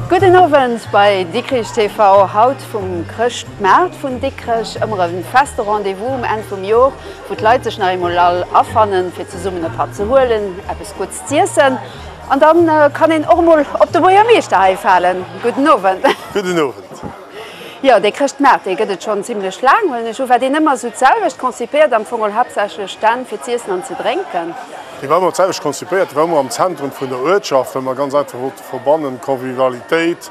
Gudden Owend bei Dikrich TV, haut vum Chrëschtmaart vun Dikrech, ëmmer e feste Rendez-vous um Enn vum Jor. wou d'Leit sech nach eemol all afannen, fir zesummen e Patt ze huelen, eppes Gutts z'iessen. An da kann een och emol op de Buergermeeschter hei falen. Gudden Owend. Gudden Owend. Jo, dee Chrëschtmaart, dee gëtt et schonn zimlech laang, huelen ech un. War deen ëmmer esou d'selwecht konzipéiert, am Fong all haaptsächlech Stänn fir z'iessen an ze drénken? Dee war ëmmer d'selwecht konzipéiert. Dee war ëmmer am Zentrum vun der Uertschaft, well mer ganz einfach wollte verbannen, Convivialitéit,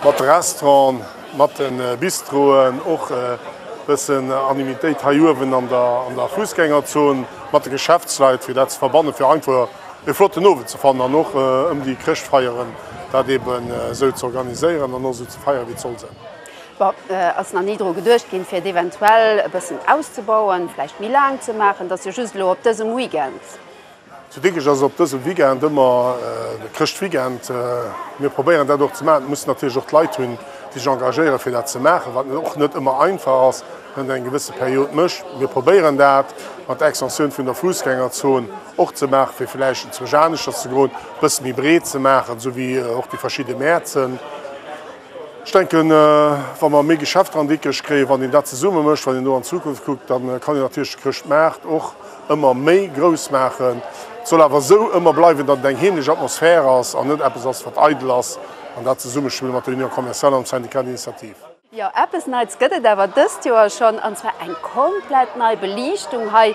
Mat de Restauranten, mat de Bistroen, och e bëssen Anonymitéit hei uewen an der Fussgängerzon, mat de Geschäftsleit, fir dat ze verbannen, fir einfach e flotten Owend ze fannen an och ëm déi Chrëschtfeieren dat eeben esou ze organiséieren an och esou ze feieren, wéi et soll sinn. Bon, ass nach ni dru geduecht ginn, fir et eventuell e bëssen auszebauen, vläicht méi laang ze maachen? Et ass jo just elo op dësem Weekend. Zu Dikrech ass op dësem Weekend ëmmer de Chrëschtweekend. Mir probéieren dat och ze maachen. Et muss natierlech och Leit hunn, déi sech engagéieren, fir dat ze maachen, wat och net ëmmer einfach ass, wann een eng gewësse Period mécht. Mir probéieren dat mat der Extensioun vun der Fussgängerzon och ze maachen, fir vläicht en Zwerg aneschters ze groen, e bësse méi breet ze maachen, esou wéi och déi verschidde Mäerzen. Ech denken, wa mer méi Geschäft dran dickesch kréien, wann een dat zesumme mécht, wann een do an d'Zukunft kuckt, da kann een natierlech de Chrëschtmaart och ëmmer méi grouss maachen. Et soll awer esou ëmmer bleiwen, datt et eng heemlech Atmosphär ass an net eppes ass, wat eidel ass, an dat Zesummespill mat der Union Commerciale an dem Syndicat d'Initiative. Jo, eppes Neits gëtt et awer dëst Joer schonn, an zwar eng komplett nei Beliichtung hei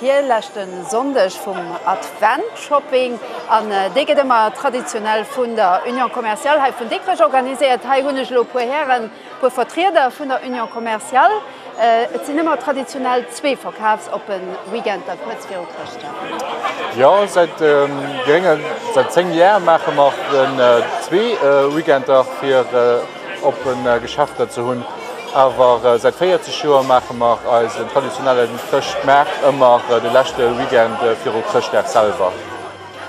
Virleschte Sonndeg vum Advent-Shopping an dee gëtt ëmmer traditionell vun der Union Commerciale hei vun Dikrech organiséiert. Hei hunn ech elo e puer Hären, e puer Vertrieder vun der Union Commerciale. Et sinn ëmmer traditionell zwee Verkafsoppen, Weekend da kuerz viru Chrëschtdag. Jo, säit gréngen, säit 10 Jar maache mer zwee Weekender fir. oppen Geschäfter ze hunn. Awer säit 40 Joer maache mer eisen traditionellen Chrëschtmaart ëmmer de leschte Weekend viru Chrëschtdag selwer.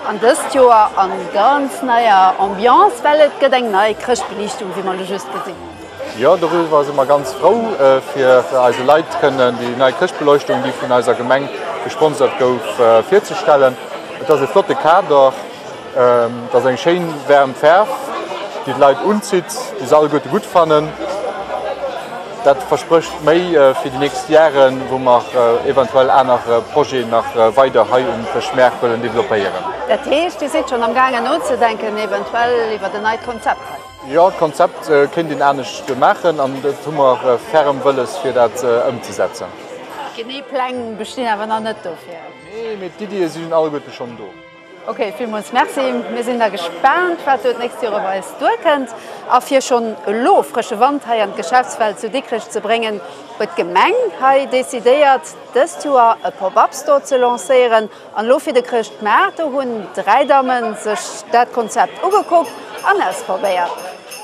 An dëst Joer a ganz neier Ambiance, well et gëtt eng nei Chrëschtbeliichtung, wéi mer elo just gesinn hunn. Jo, doriwwer si mer ganz frou, fir eise Leit kënnen déi nei Chrëschtbeleuchtung, déi vun eiser Gemeng gesponsert gouf, virzestellen. Et ass e flotte Kader. T'ass eng schéin waarm Faarw déi d'Leit unzitt, déi se alleguerte gutt fannen. Dat versprécht méi fir déi nächst Jaren, wou mer eventuell aner Projeten nach weider hei um Fëschmaart wëllen developpéieren. Dat heescht Dir sidd schonn am gaangen nozedenken eventuell iwwert en neit Konzept hei? Jo, d'Konzept kéint een anescht maachen an et hu mer ferm Wëlles fir dat ëmzesetzen. Genee Pläng bestinn awer nach net dofir? Nee, mee d'Iddie sinn alleguerte schonn do. Ok, villmools Merci. Mir sinn da gespaant, wat do d'nächst Joer op eis duerkënnt. A fir schonn elo frësche Wand hei an d'Geschäftswelt zu Dikrech ze bréngen, huet d'Gemeng hei decidéiert, dëst Joer e Pop-Up Store ze lancéieren. An elo fir de Chrëschtmaart, do hunn dräi Damme sech dat Konzept ugekuckt an ausprobéiert.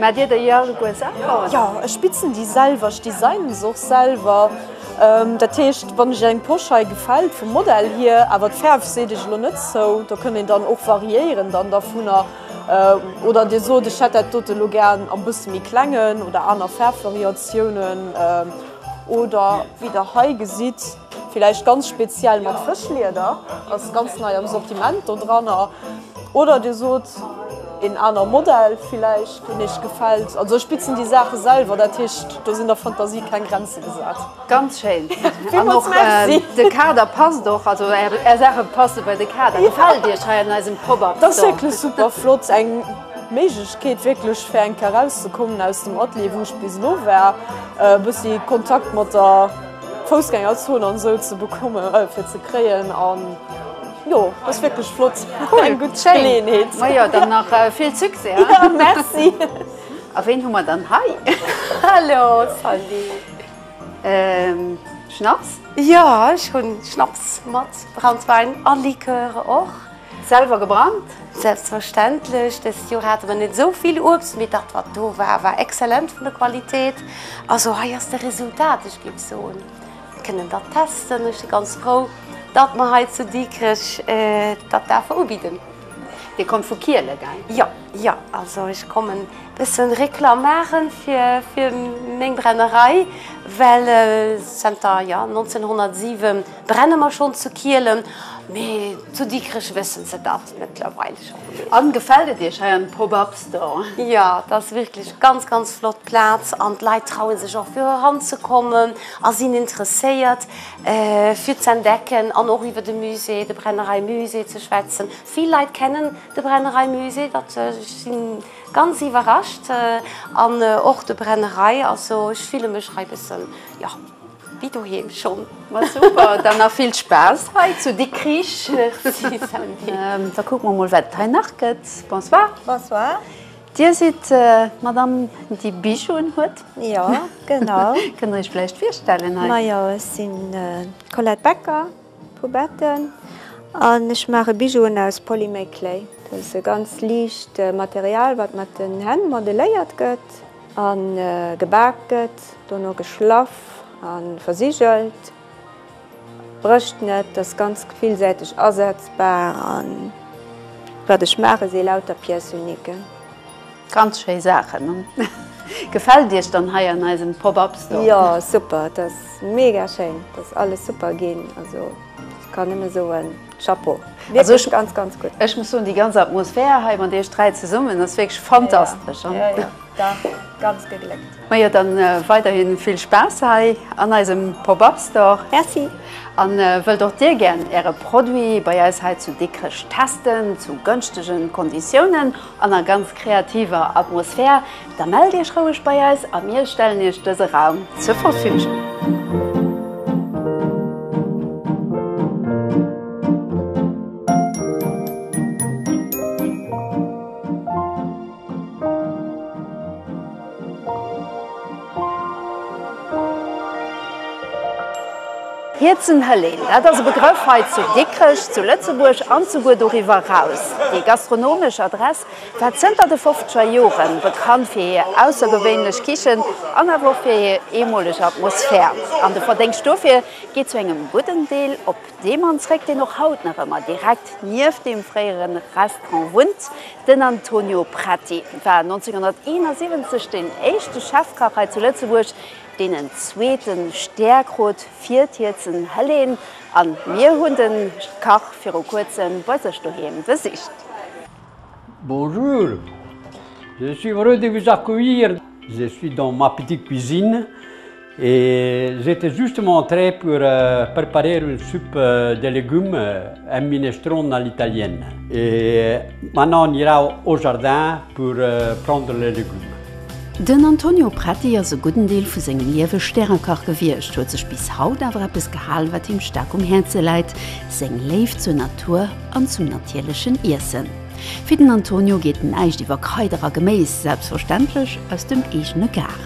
Maat dir dei iergenguer Saachen? Jo, ech bitzen déi selwer, ech designen se och selwer. Dat heescht wann iech eng Posch hei gefält vum Modell hier, awer d'Fäerf seet iech elo net zou, do kënnt een dann och variéieren dann dervunner. Oder dir sot ech hätt dat dote elo gären am bësse méi klengen oder aner Faarfvariatiounen. Oder wéi der hei gesitt. Villäicht ganz speziell mat Fëschlieder, ass ganz nei am Sortiment do dranner. Oder Dir sot een aner Modell villäicht, deen Iech gefält. Also ech bitzen déi Saache selwer, dat heescht do sinn der Fantasie keng Grenze gesat. Ganz schéin. Villmools Merci. De Kader passt och, also Är Saache passe bei de Kader. Gefält Iech hei an eisem Pop-Up? Dat ass wierklech super flott. Eng Méiglechkeet wierklech fir enk erauszekommen aus dem Atelier wou ech bis elo war, e bëssi Kontakt mat der. Foussgängerzon an esou ze bekomme fir ze kréien an jo ass wierklech flott. Cool eng gutt Geleeënheet. Ma jo dann nach vill Succès hei. Jo merci. A ween hu mer dann hei? Hallo Sandy. Schnaps? Jo ech hunn Schnaps mat, Branntwäin a Likör och. Selwer gebrannt? Selbstverständlech. Dëst Joer hate mer net esou vill Uebst, mee dat wat do war, war excellent vun der Qualitéit. Also hei ass de Resultat. Ech géif soen, mir kënnen dat testen. Ech si ganz frou, datt mer hei zu Dikrech dat daerfe ubidden. Dir kommt vu Kiele, gell? Jo, jo. Also ech kommen e bësse Reklam maache fir meng Brennerei, well zanter, jo, 1907, Brenne mer schon zu Kielen, mee zu Dikrech wëssen se dat mëttlerweil schon. An gefällt et iech hei an Pop Up Store? Jo, et ass wierklech ganz ganz flott Plaz an d'Leit trauen sech och fir eran ze kommen a sinn interesséiert fir ze entdecken an och iwwer de Musée, de Brennerei Musée ze schwätzen. Vill Leit kennen de Brennerei Musée, dat ech sinn ganz iwwerrascht an och de Brennerei, also ech fille mech hei bëssen jo. Wéi doheem schonn. Ma super, dann nach vill Spaass hei zu Dikrich. Merci Sandy. Da kucke mer mol wat et hei nach gëtt. Bonsoir. Bonsoir. Dir sidd d'Madame déi Bijoux un huet? Jo, genau. Kënnt der Iech vläicht virstellen hei? Ma jo, ech sinn d'Colette Becker vu Betten an ech maache Bijouen aus Polymer Clay. Dat ass e ganz liicht Material wat mat den Hänn modeléiert gëtt. A gebak gëtt, dono geschlaff a versigelt. Brécht net, ass ganz villsäiteg asetzbar a wat ech maache si lauter Pièce uniquen. Ganz schéi Saachen. Gefält Iech dann hei an eisem Pop-Up Store? Jo super, et ass mega schéin, et ass alles super ginn, also ech kann nëmme soen. Chapeau. Wierklech ganz, ganz gutt. Ech muss soen, déi ganz Atmosphär hei mat iech dräi zesummen ass wierklech fantastesch. Jo, jo, jo, dach, ganz gegléckt. Majo, dann weiderhi vill Spaass hei an eisem Pop-Up Store. Merci. An wëllt och dir gären äre Produit bei eis hei zu Dikrech testen zu gënschtegen Konditiounen? An a ganz kreativer Atmosphär, da mellt Iech roueg bei eis a mir stellen Iech dëse Raum zur Verfügung. Hierzen Hëllin, dat ass e Begrëff hei zu Dikrech, zu Lëtzebuerg an souguer doriwwer eraus. Déi gastronomesch Adress war zënter de fofzeger Jore bekannt fir hir aussergewéinlech Kichen an awer och fir hir eemoleg Atmosphär. An de Verdéngscht dofir geet zu engem gudden Deel op dee Mann zréck, deen och haut nach ëmmer direkt nieft deem fréiere Restaurant wunnt, Den Antonio Prati war 1971 deen éischte Chefkach hei zu Lëtzebuerg, deen en zweete Stär krut fir d'Hiezen Helene. A mir hunn de Kach viru kuerzem bei sech doheem besicht. Bonjour, je suis heureux de vous accueillir, je suis dans ma petite cuisine. Ils étaient justement en train pour préparer une soupe de légumes et minestrone à l'italienne. Et maintenant on ira au jardin pour prendre les légumes. Den Antonio Preti ass e gudden Deel vu sengem Liewe Stärekach gewiescht, huet sech bis haut awer eppes gehal, wat him staark um Häerze läit, seng Léift zur Natur an zum natierlechen Iessen. Fir den Antonio geet näischt iwwer Kraider a Geméis, selbstverständlech aus dem eegene Gaart.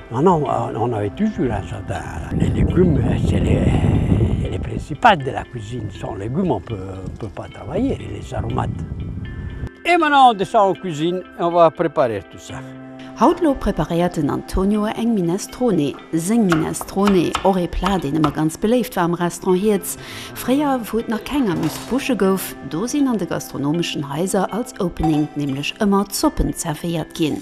Ma no, on avait toujours un jardin. Les légumes, c'est le principal de la cuisine. Sans légumes, on ne peut pas travailler, les aromates. Et maintenant, on descend en cuisine et on va préparer tout ça. Haut lo preparéiert den Antonio eng Minestrone. Seng Minestrone, och ee Plat, deen ëmmer ganz beléift war am Restaurant Hiertz. Fréier, wou et nach keng Amuse-Bouche gouf, do sinn an de gastronomeschen Haiser als Opening nämlech ëmmer Zoppen zervéiert ginn.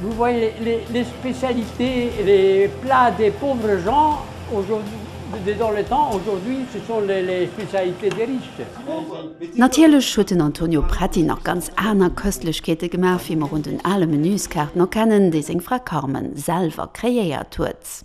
Vous voyez les spécialités et les plats des pauvres gens aujourd'hui, dans le temps, aujourd'hui ce sont les spécialités des riches. Natierlech huet den Antonio Pretti nach ganz aner Köstlechkeete gemaach, wéi mer un den ale Menüskaarten erkennen, déi seng Fra Carmen selwer kreéiert huet.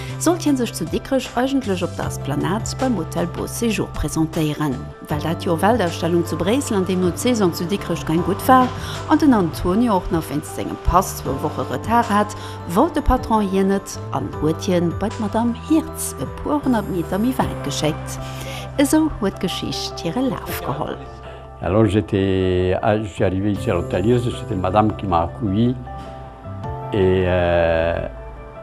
Sollt hien sech zu Dikrech eigentlech op der Esplanade beim Hotel Beau Séjour presentéieren, well dat Joer Weltausstellung zu Bréissel an deemno d'Saison zu Dikrech keng gutt war an den Antonio och nach wéinst sengem Pass zwou Woche Retard hat, wollt de Patron hien net an huet hien bei d'Madame Hirtz e puer honnert Meter méi wäit geschéckt. Esou huet d'Geschicht hire Laf geholl. Alors j'étais, je suis arrivé ici à l'hôtel Hirtz et c'était Madame qui m'a accueilli et.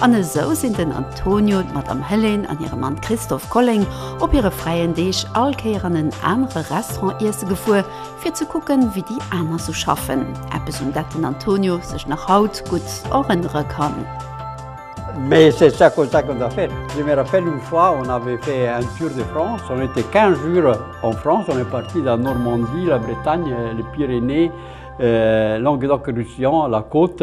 An esou sinn den Antonio, d'Madame Helene an hire Mann Christophe Colling op hire fräien Deeg all Kéier an en anere Restaurant iesse gefuer, fir ze kucken, wéi déi aner sou schaffen, eppes un dat den Antonio sech nach haut gutt erënnere kann. Mais c'est ça comme ça qu'on a fait, je me rappelle une fois on avait fait un tour de France, on était 15 jours en France, on est parti de la Normandie, la Bretagne, les Pyrénées, Languedoc-Roussillon, la côte,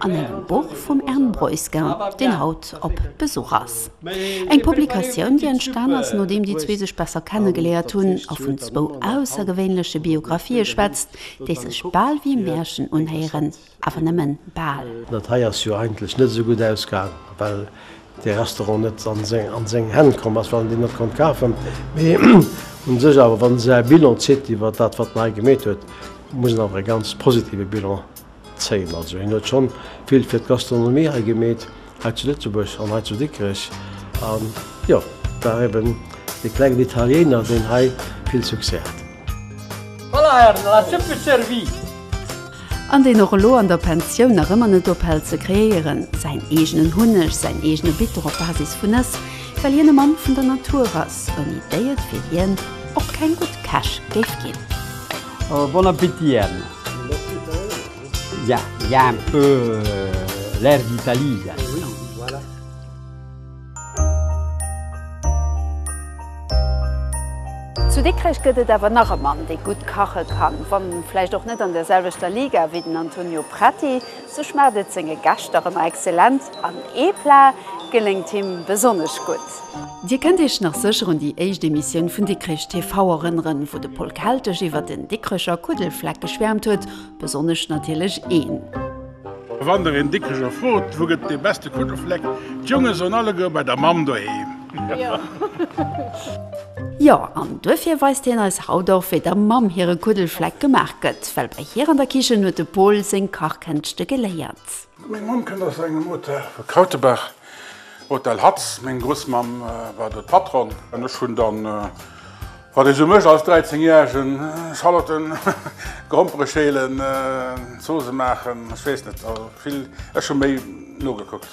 an engem Buch vum Ern Breusgen, deen haut op Besuch ass. Eng Publikatioun, déi entstan ass, nodeem déi zwee sech besser kennegeléiert hunn a vun zwou aussergewéinleche Biographië schwätzt, déi sech bal wéi Märchen unhéieren, awer nëmme bal. Dat hei ass jo eigentlech net esou gutt ausgaang, well de Restaurant net a seng Hänn komm ass, well en deen net konnt kafen. Mee u sech awer, wann ee säi Bilan zitt iwwer dat, wat en hei gemeet huet, muss en awer e ganz positive Bilan Zéil. Also hien huet schonn vill fir d'Gastronomie hei gemeet, hei zu Lëtzebuerg an hei zu Dikrech. An jo, war eben dee klengen Italiéiner, deen hei vill Succès hat. Voilà, Här, no ass super servie. An deen och elo an der Pensioun nach ëmmer net ophält ze kreéieren. Säin eegenen Hunneg, säin eegene Bitter op Basis vun Nëss, well hien e Mann vun der Natur ass, ouni déi et fir hien och keng gutt Käch géif ginn. Bon appétit Ern. Il y a un peu l'air d'Italie là. Zu Dikrech gëtt et awer nach e Mann, dee gutt kache kann. Wann vläicht och net an der selwechter Liga wéi den Antonio Prati, sou schmaacht et senge Gäscht dach ëmmer exzellent an ee Plat geléngt him besonnesch gutt. Dir kënnt Iech nach sécher un déi éischt Emissioun vun Dikrech TV erënneren, wou de Pol Kelteg iwwer den Dikrecher Kuddelfleck geschwäermt huet, besonnesch natierlech een. Wann der een Dikrecher frot, wou gëtt dee beste Kuddelfleck, d'Jonge soen alleguer, bei der Mamm doheem. Jo, an duerfir weist hien eis haut och, wéi der Mamm hire Kuddelfleck gemaach gëtt, well bei hir an der Kichen huet de Pol seng Kachkënschte geléiert. Meng Mamm kënnt aus engem Hotel vu Krautebach, Hotel Hatz. Meng Grussmamm war do d'Patronne. An ech hunn dann, wat ee sou mécht als Dräizengjäregen, Schalotten, Grompere schälen, Zoosse maachen, ech weess net, vill. Ech hu méi nogekuckt.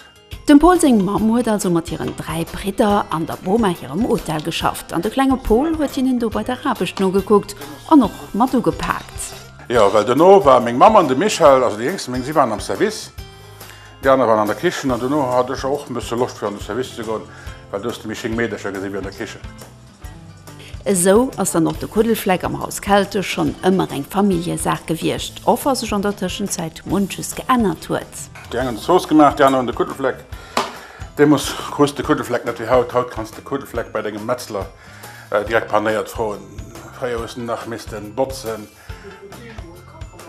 Dem Paul seng Mamm huet also mat hiren dräi Bridder an der Boma hirem Hotel geschafft an de klenge Paul huet hinnen do bei der Aarbecht nogekuckt an och mat ugepaakt. Jo, well dono war meng Mamm an de Michel, also déi jéngste, meng si waren am Service, déi aner waren an der Kichen an dono hat ech och en bësse Loscht fir an de Service ze goen, well do hues de méi schéin Meedercher gesinn wéi an der Kichen. Esou ass dann och de Kuddelfleck am Haus Keltisch schonn ëmmer eng Familljesaach gewiescht, och wa sech an der Tëschenzäit munches geännert huet. Déi eng hunn d'Zooss gemaach, déi aner hunn de Kuddelfleck. Deemoos krus de Kuddelfleck net wéi haut, haut kanns de Kuddelfleck bei dengem Metzler Direkt panéiert d'Froen fréier hu nach missten botzen,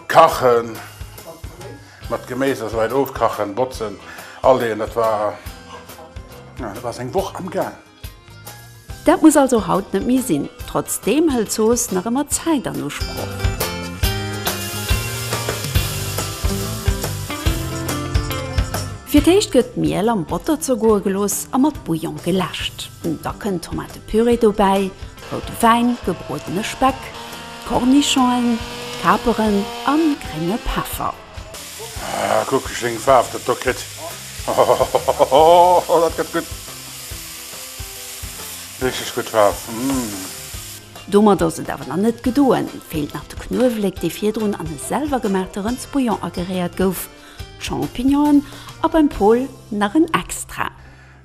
kachen, mat Geméis a sou weit ofkachen, botzen, aleeën. Dat war dat war seng Woch am gaang. Dat muss also haut net méi sinn. Trotzdeem hëlt Zooss nach ëmmer Zäit an Usproch. Fir d'éischt gëtt d'Miel am Botter zergoe gelooss a mat Bouillon geläscht. Da kënnt Tomatepürée dobäi, route Wäin, gebruedene Speck, Kornischongen, Kaperen a grénge Peffer. Ah, kuck ech wéi eng Faarf dat do kritt. Hohohohohoho, dat gëtt gutt. Richteg gutt Faarf. Umm. Domat ass et awer nach net gedoen. Feelt nach de Knuewelek, dee virdrun an e selwergemaachte Rëndsbouillon ageréiert gouf, d'Champignonen a beim Paul nach en Extra.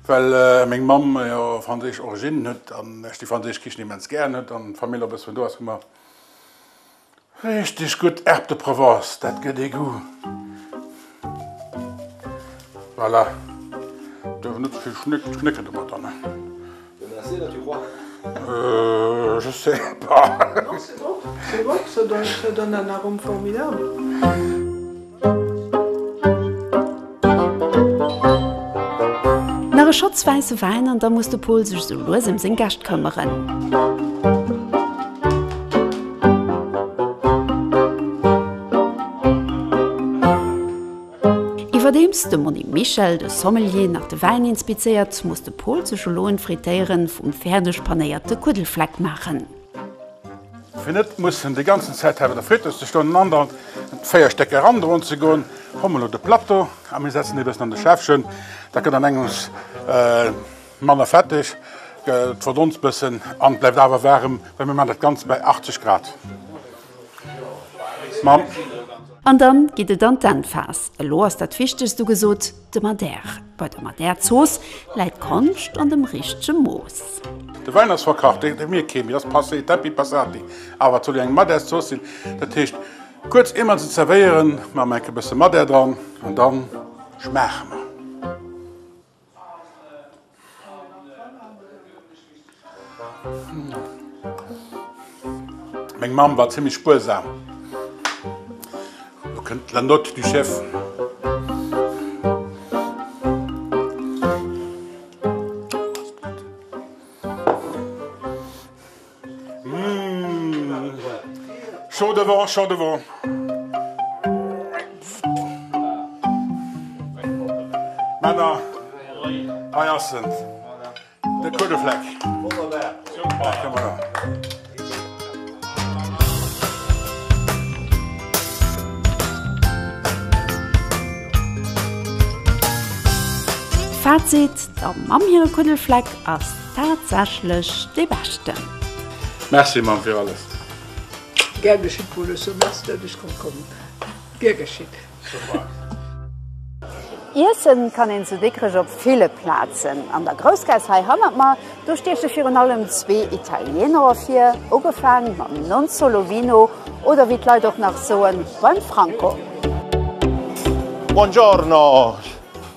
Well meng Mamm jo franséisch Originnen huet an ech déi franséisch Kichen immens gären huet an d'Famill och e bëss vun do ass, hu mer richteg gutt Herbes de Provence. Dat gëtt ee Goût. Voilà, duerf net ze vill schnécken domadder, ne? Dann ass dir dat jo roi. Euh, je sais pas. Doch, se gouf, se gouf, se däischt jo dann awer rëm formidabel. Nach e Schotz wäisse Wäin an da muss de Pol sech esou lues ëm seng Gäscht këmmeren. Iwwerdeems de Monni Michel, de Sommelier, nach de Wäin inspizéiert, muss de Pol sech elo en Frittéieren vum fäerdeg panéierte Kuddelfleck maachen. Fir net mussen déi ganzen Zäit hei bei der Friteuse ze stoen an andauernd véier Stécker erandroen ze goen, hu mer elo de Plateau a mir setzen e bëssen an de Schäffchen. Da gëtt an engems manner fetteg, verdonst bëssen an bleift awer waarem, well mir maachen dat Ganzt bei 80 Grad. An dann geet et an d'Endphas. Elo ass dat Wichtegst ugesot. De Madère. Bei der Madère-Zooss läit d'Konscht an dem richtege Mooss. De Wäin ass verkacht, deen drénke mir kee méi, ass passé, Tempi passati. Awer et soll jo eng Madèrzooss sinn, dat heescht, kuerz ier mer se zerwéieren, maache mer enk e bësse Madère dran an da schmaache mer. Meng Mamm war zimmlech spuersam. Lo kënnt La Note du Chef. Chant devant, chant devant. Männer hei ass en, de Kuddefleck. Fazit, der Mamm hire Kuddelfleck ass. Tatsächlech dee beschten. Merci Mamm fir alles. Gär geschitt Bolesso, merci dat ech konnt kommen. Gär geschitt. Iessen kann een zu Dikrech op ville Plazen. An der Groussgaass hei hannert mer, do stieche virun allem zwee Italiener ervir, ugefaang mam Non Solo Vino oder wéi d'Leit och nach soen, beim Franco. Buongiorno!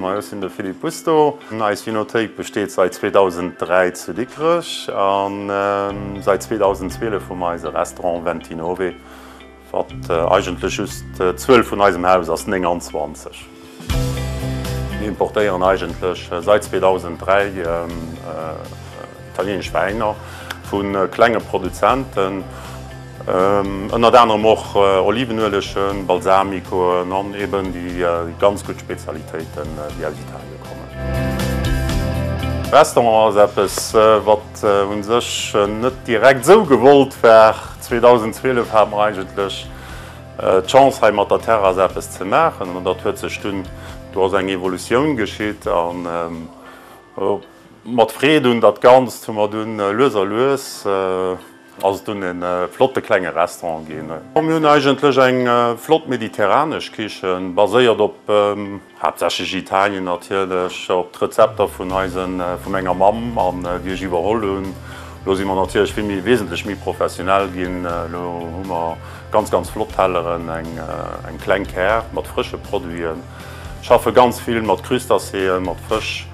Moi, ech sinn de Philippe Busto. Eis Vinothéik besteet säit 2003 zu Dikrech a säit 2012 hu mer eise Restaurant Venti Nove, wat eigentlech just d'Zuel vun eisem Haus ass, 29. Mir importéieren eigentlech säit 2003 italienesch Wäiner vu klenge Produzenten. Ënnert anerem och Olivenuelegen, Balsamikoen an eben déi ganz gutt Spezialitéiten, déi aus Italien kommen. Restaurant ass eppes, wat un sech net direkt esou gewollt war. 2012 hat mer eigentlech d'Chance hei mat der Terrasse eppes ze maachen an dat huet sech dunn, do ass eng Evolutioun geschitt an mat Freed un dat Ganzt hu mer dunn lues a lues, Ass et dunn e flotte klenge Restaurant ginn. Mir hunn eigentlech eng flott mediterranesch Kichen, baséiert op haaptsächlech Italien natierlech, op d'Rezepter vun eise vu menger Mamm an déi ech iwwerholl hunn. Elo si mer natierlech vill méi wesentlech méi professionell ginn. Elo hu mer ganz, ganz flott Telleren, eng kleng Kär mat frësche Produiten, schaffe ganz vill mat Crustacéen, mat Fësch.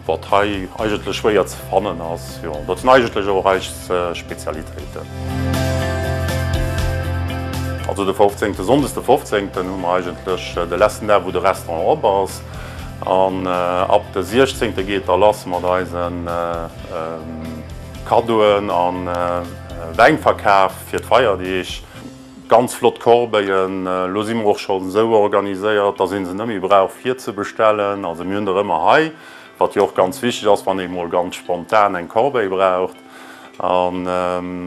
Wat hei eigentlech schwéier ze fannen ass, jo, dat sinn eigentlech och eis Spezialitéiten. Also de 15, de Sonndes de 15 hu mer eigentlech de letzten Dag, wou de Restaurant op ass. An ab de 16 geet da lass mat eise Kaddoen a Wäinverkaf fir d'Feierdeeg. Ganz flott Corbeillen. Lo si mer och scho sou organiséiert, dass ee se net méi brauch virzebestellen. Also mir hunn der ëmmer hei, wat jo och ganz wichteg ass, wann ee mol ganz spontan eng Corbeille braucht. An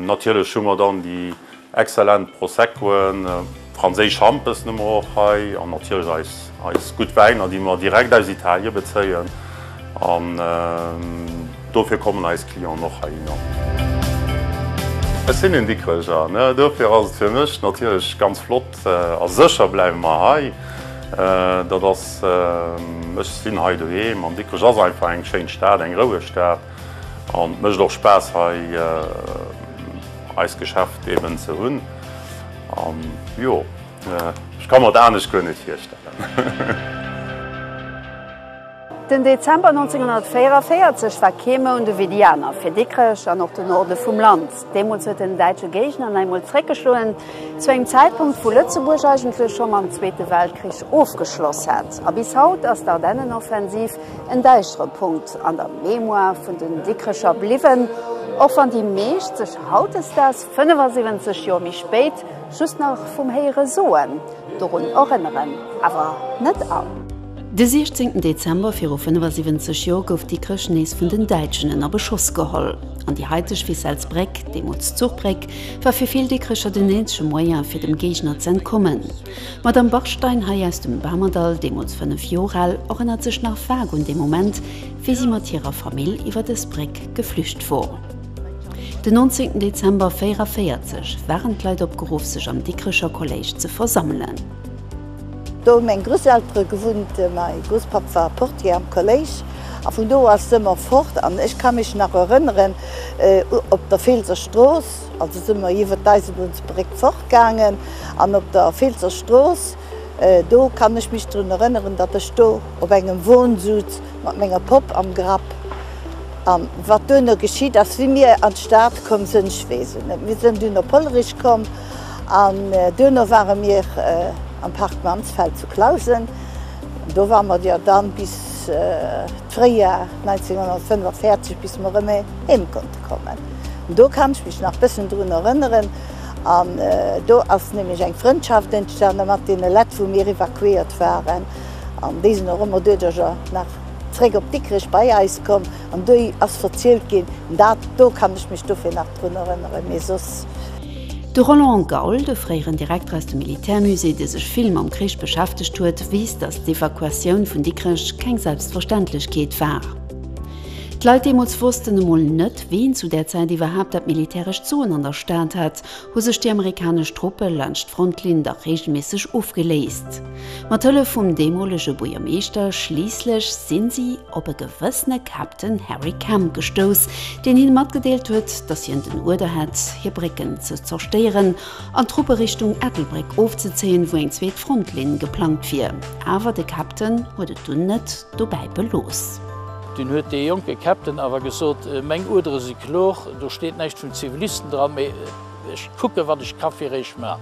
natierlech hu mer dann déi exzellent Proseccoen, franséisch Hampessen hu mer och hei an natierlech eis Eis gutt Wäiner, déi mer direkt aus Italien bezéien an dofir kommen eis Clienten och heihinner. Ech sinn een Dikkrecher, dofir ass et fir mech natierlech ganz flott a sécher bleiwe mer hei. Dat ass, ech sinn hei doheem an Dikkrech ass einfach eng schéin Stad, eng roueg Stad an et mécht och Spaass hei eist Geschäft eben ze hunn an jo. Ech ka mer et anescht guer net virstellen. Den Dezember 1944 war kee Mount ewéi déi aner fir Dikrech an och de Norde vum Land. Deemools huet den däitsche Géigner nach eemol zréckgeschloen, zu engem Zäitpunkt, wou Lëtzebuerg eigentlech scho mam Zweete Weltkrich ofgeschloss hat. A bis haut ass d'Ardennenoffensiv en däischtere Punkt an der Mémoire vun den Dikrecher bliwwen, och wann déi meescht sech hautdesdaags, 75 Joer méi spéit, Just nach vum héiere soen, dorun erënneren awer net all. De 16 Dezember viru 75 Joer gouf Dikrech nees vun den Däitschen ënner Beschoss geholl, an déi haiteg Wissels Bréck, deemools Zuchbréck, war fir vill Dikrecher den eenzege Moyen, fir dem Géigner z'entkommen. D'Madame Bachstein, hei aus dem Bamerdall, deemools 5 Joer al, erënnert sech nach vag un dee Moment, wéi si mat hirer Famill iwwer dës Bréck geflücht wor. Den 19 Dezember 44 waren d'Leit opgeruff sech am Dikrecher Kolléisch ze versammelen. Do hu meng Grousseltere gewunnt, mäi Grousspapp war Portier am Kolléisch a vun do ass se ëmmer fort an ech ka mech nach erënneren op der Feelser Strooss, also si mer iwwert d'Eisebunnsbréck fort gaangen an op der Feelser Strooss, do kann ech mech drun erënneren, datt ech do op engem Won suz, Mat menger Popp am Grapp. An wat duerno geschitt ass, wéi mir an d'Stad komm sënn, ech weess et net. Mir sënn dunn op Hollerich komm an duerno ware mir am Park Mansfeld zu Clausen. Do ware mer jo dann bis d'Fréijoer 1945, bis mer erëm heem konnte kommen. Do kann ech mech nach bëssen drun erënneren. An do ass nämlech eng Frëndschaft entstane mat deene Lett, wou mir evakuéiert waren. an déi sinn och ëmmer duerjercher nach zréck op Dikrech bei eis komm an do ass verzielt ginn, dat do kann ech mech dofir nach drun erënneren, mee soss. De Roland Gaul, de fréieren Direkter aus dem Militärmusée, dee sech vill mam Krich beschäftegt huet, weess, datt d'Evakuatioun vun Dikrech keng Selbstverständlechkeet war. D'Leit deemools wossten emol net, ween zu där Zäit iwwerhaapt dat militärescht Soen an der Stad hat, hu sech déi amerikanesch Truppe laanscht d'Frontlinn dach reegelméisseg ofgeléist. Mat Hëllef vum deemolege Buergermeeschter schliisslech si si op e gewëssene Captain Harry Kemp gestouss, deen hinne matgedeelt huet, datt hien den Uerder hätt, hir Brécken ze zerstéieren an d'Truppe Richtung Ettelbréck ofzezéien, wou eng zweet Frontlinn geplangt wier. Awer de Captain huet et dunn net dobäi belooss. Dunn huet dee jonke Captain awer gesot, Meng Uerdere si kloer, do steet näischt vun Zivilisten dran. Ech kucken, wat ech ka fir eech man.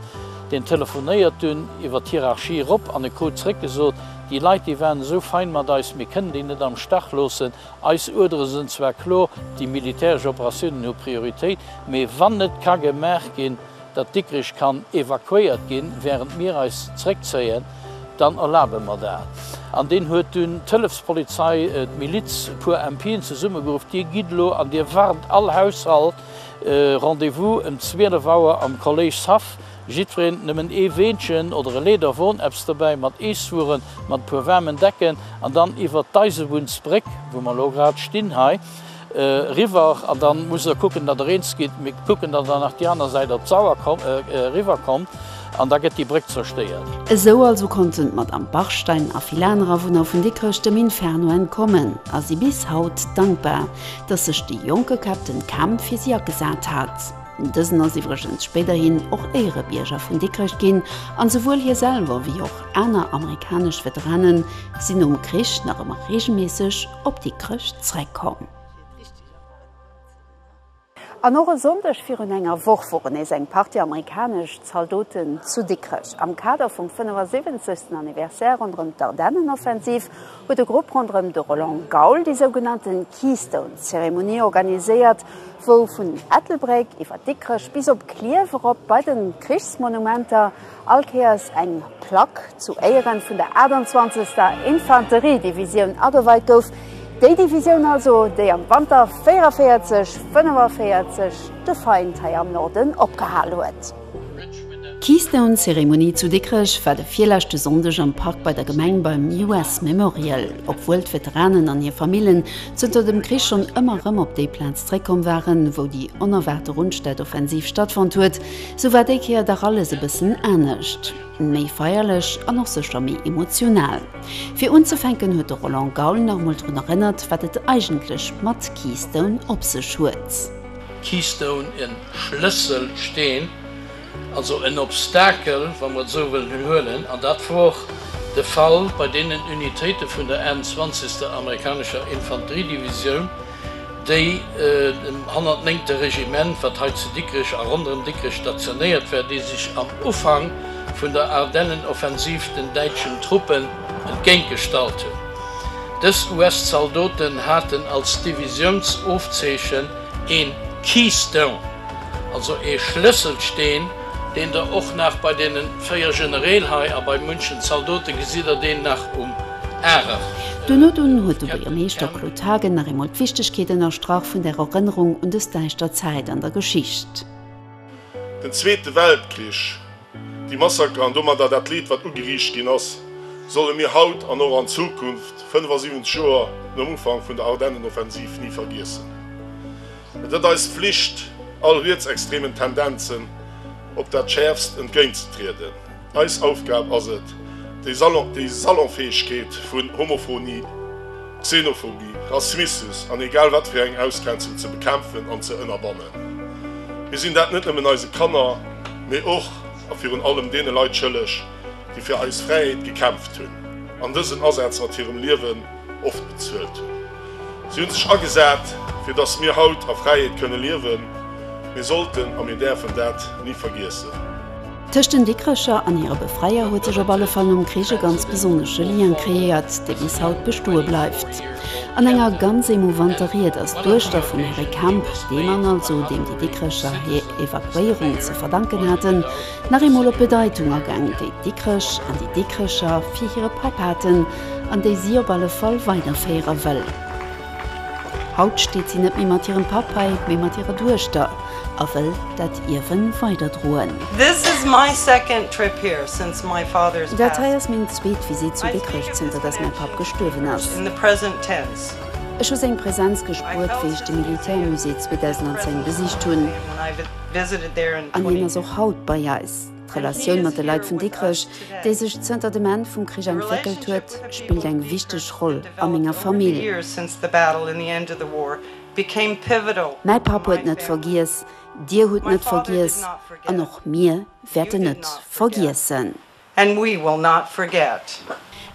Deen telefonéiert dunn iwwer d'Hierarchie erop an e krut zréck gesot, Déi Leit, déi waren esou fein mat eis, mir kënnen déi net am Stach loossen. Eis Uerdere sënn zwar klor, déi militäresch Operatiounen hu Prioritéit, mee wann net ka gemaach ginn, datt Dikrich kann evakuéiert ginn, wärend mir eis zréckzéien, dann erlabe mer dat. An deen huet dunn d'Hëllefspolizei, d'Miliz, e puer MPen zesummegeruff, Dir gitt elo an Dir warnt all Haushalt, Rendez-vous em 12 Auer am Collège Saff. Jiddwereen nëmmen ee Weenchen oder e Leederwon, eppes dobäi mat Eeswueren, mat e puer waarmen Decken an dann iwwert d'Eisebunnsbréck, wou mer elo grad stinn hei, riwwer. An dann musst Der kucken, datt Der eens gitt. Mir kucken, datt Der nach déi aner Säit op d'Sauer riwwer kommt. An da gëtt déi Bréck zerstéiert. Esou also konnten d'Madamm Bachstein a vill aner Awunner vun Dikrech dem Inferno entkommen a si bis haut dankbar, datt sech de jonke Käpp den Kampf fir si agesat hat. Dësen ass iwwregens spéiderhin och Éierebierger vun Dikrech ginn an souwuel hie selwer wéi och aner amerikanesch Veteranen sinn nom Krich nach ëmmer reegelméisseg op Dikrech zréckkomm. An och e Sonndeg virun enger Woch woren nees eng Partie amerikanesch Zaldoten zu Dikrech. Am Kader vum 75. Anniversaire ronderëm d'Ardennenoffensiv huet e Grupp ronderëm de Roland Gaul déi sougenannte Keystone-Zeremonie organiséiert, wou vun Ettelbréck iwwer Dikrech bis op Klierf erop bei de Krichsmonumenter, All Kéiers eng Plack zu Éieren vun der 28. Infanteriedivisioun ageweit gouf, déi Divisioun also, déi am Wanter 44, 45 de Feind hei am Norden opgehal huet. D'Keystone-Zeremonie zu Dikrech war de virleschte Sonndeg am Park bei der Gemeng beim US Memorial. Obwuel d'Veteranen an hir Famillen zënter dem Krich schonn ëmmer erëm op déi Plaz zréckkomm waren, wou déi onerwaarte Rundstedtoffensiv stattfonnt huet, Sou war déi Kéier dach alles e bëssen anescht, méi feierlech an och sécher méi emotional. Fir unzefänken huet de Roland Gaul nach emol drun erënnert, wat et eigentlech mat Keystone op sech huet. Keystone, e Schlësselsteen, also en Obstakel, wa mer et esou wëllen huelen, an dat wor och de Fall bei deenen Unitéite vun der 21. Amerikanescher Infanteriedivisioun, déi dem 109. Regiment, wat hei zu Dikrech a ronderëm Dikrech stationéiert war, déi sech am Ufank vun der Ardennenoffensiv den däitschen Truppen entgéintgestallt hunn. Dës US-Zaldoten haten als Divisiounsofzeechen een Keystone, also ee Schlësselsteen, deen der och nach bei deene véier Generäl hei a bei munchen Zaldote gesitt a deen nach um Duerno dunn huet de Buergermeeschter Claude Haagen nach eemol d'Wichtegkeet ënnerstrach vun der Erënnerung un dës däischter Zäit an der Geschicht. Den Zweete Weltkrich, déi Massaker an domadder dat Leed, wat ugeriicht ginn ass, solle mir haut an och an Zukunft, 75 Joer nom Ufank vun der Ardennenoffensiv, ni vergiessen. Et ët eis Flicht, all rietsextremen Tendenzen op dat schäerfst entgéintzetrieden. Eis Aufgab ass et, déi Salonfäegkeet vun Homophonie, Xenophobie, Rassmissus an egal wat fir eng Ausgrenzung ze bekämpfen an ze ënnerbannen. Mir sinn dat net nëmmen eise Kanner, mee och a virun allem deene Leit schëlleg, déi fir eis Fräiheet gekämpft hunn an dësen Asaz mat hirem Liewen oft bezuelt hunn. Si hunn sech agesat, fir datt mir haut a Fräiheet kënne liewen. Mir sollten a mir däerfen dat ni vergiessen. Tëscht den Dikrecher an hire Befreier huet sech op alle Fall nom Krich e ganz besonnesche Lien kreéiert, dee bis haut bestoe bleift. An enger ganz émouvanter Ried ass d'Duechter vum Herri Kemp, dee Mann also, deem déi Dikrecher hir Evakuéierung ze verdanken haten, Nach eemol op d'Bedeitung agaang, déi d'Dikrech an déi Dikrecher fir hire Papp haten an déi si op alle Fall weiderféiere wëll. Haut steet si net méi mat hirem Papp hei, mee mat hirer Duechter a wëll dat Ierwe weiderdroen. Dat hei ass meng zweet Visitt zu Dikrech zënter datt mäi Papp gestuerwen ass. Ech hu seng Presenz gespuert, wéi ech de Militärmusée 2010 besicht hunn. An hien ass och haut bei eis. D'Relatioun mat de Leit vun Dikrech, déi sech zënter dem Enn vum Krich entwéckelt huet, spillt eng wichteg Roll a menger Famill. Mäi Papp huet net vergiess, Dir hutt net vergiess an och mir wäerten net vergiessen. And we will not forget.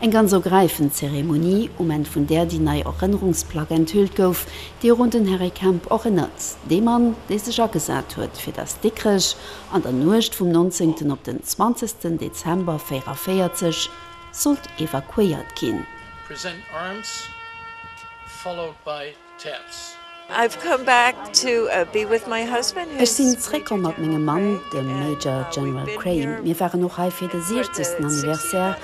Eng ganz ergräifend Zeremonie, um Enn vun där déi nei Erënnerungsplack enthüllt gouf, déi och un den Harry Kemp erënnert, dee Mann, dee sech agesat huet, fir datt Dikrech an der Nuecht vum 19. op den 20. Dezember 44 sollt evakuéiert ginn. Present arms followed by. Ech sinn zréckkomm mat mengem Mann, dem Major General Crane. Mir waren och hei fir de siechzegsten Anniversaire.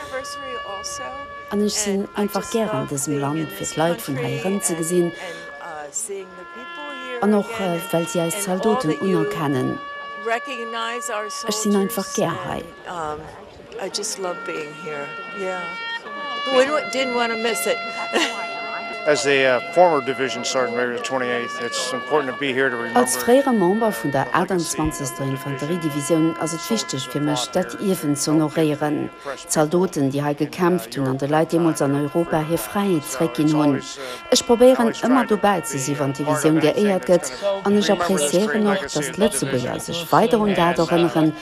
An ech sinn einfach gär an dësem Land, fir d'Leit vun hei erëmzegesinn an och well si eis Zaldoten unerkennen. Ech sinn einfach gär hei. I just love being here, yeah, didn't want to miss it. Als fréiere Member vun der 28. Infanteriedivisioun ass et wichteg fir mech, dat Ierwen ze honoréieren, d'Zaldoten, déi hei gekämpft hunn an de Leit deemools an Europa hir Fräiheet zeréckginn hunn. Ech probéieren, ëmmer dobäi ze si, wann d'Divisioun geéiert gëtt, an ech appreciéieren och, datt d'Lëtzebuerger sech weider un dat erënneren,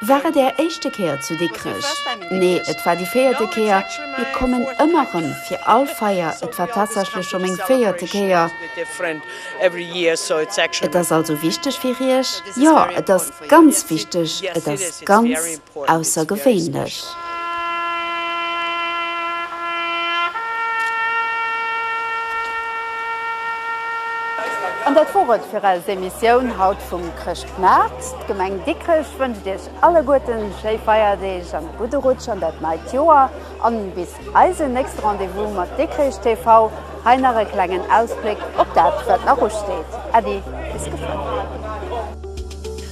War et Är éischte Kéier zu Dikrech? Nee, et war déi véierte Kéier. Mir kommen ëmmer rëm, fir all Feier. Et war tatsächlech scho meng véierte Kéier. Et ass also wichteg fir Iech? Jo, et ass ganz wichteg. Et ass ganz aussergewéinlech. An dat wor et fir eis Emissioun haut vum Chrëschtmaart. D'Gemeng Dikrech wënscht iech alleguerten schéi Feierdeeg an e gudde Rutsch an dat neit Joer an bis eisen nächste Rendez-vous mat Dikrech TV. Hei nach e klengen Ausbléck op dat wat nach usteet. Äddi bis gefënnt.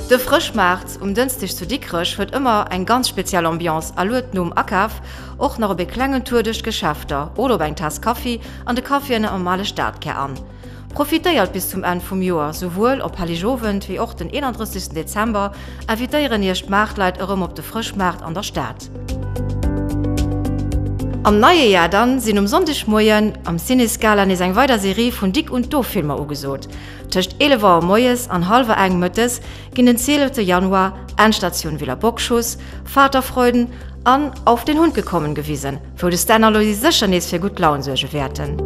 De Frëschmaart um Dënsdeg zu Dikrech huet ëmmer eng ganz speziell Ambiance a luet nom Akaf och nach op e klengen Tour duerch d'Geschäfter oder op eng Taass Kaffi an de Caféen am ale Stadkär an. Profitéiert bis zum Enn vum Joer, souwuel op Helligowend wéi och den 31 Dezember invitéieren Iech d'Maartleit erëm op de Frëschmaart an der Stad. Am neie Jar dann sinn um Sonndegmoien am Ciné Scala nees eng weider Serie vun Dick und Doof Filmer ugesot. Tëscht 11 Auer moies an hallwer eng mëttes ginn den 12 Januar Endstatioun Villa Bockschuss, Vaterfreuden an Auf den Hund gekommen gewisen. Wou de Stan a Loisy sécher nees fir gutt Laun suerge wäerten.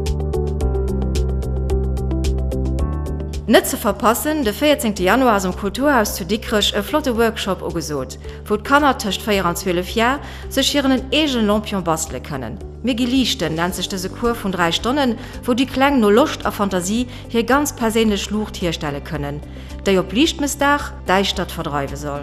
Net ze verpassen, de 14 Januar ass um Kulturhaus zu Dikrech e flotte Workshop ugesot, wou d'Kanner tëscht 4 an 12 Jar sech hiren en eegene Lampion bastele kënnen. Mir gi liichten nennt sech dëse Cours vun 3 Stonnen, wou déi Kleng no Loscht a Fantasie hir ganz perséinlech Luucht hierstelle kënnen, déi op Liichtmëssdag d'Däischtert verdreiwe soll.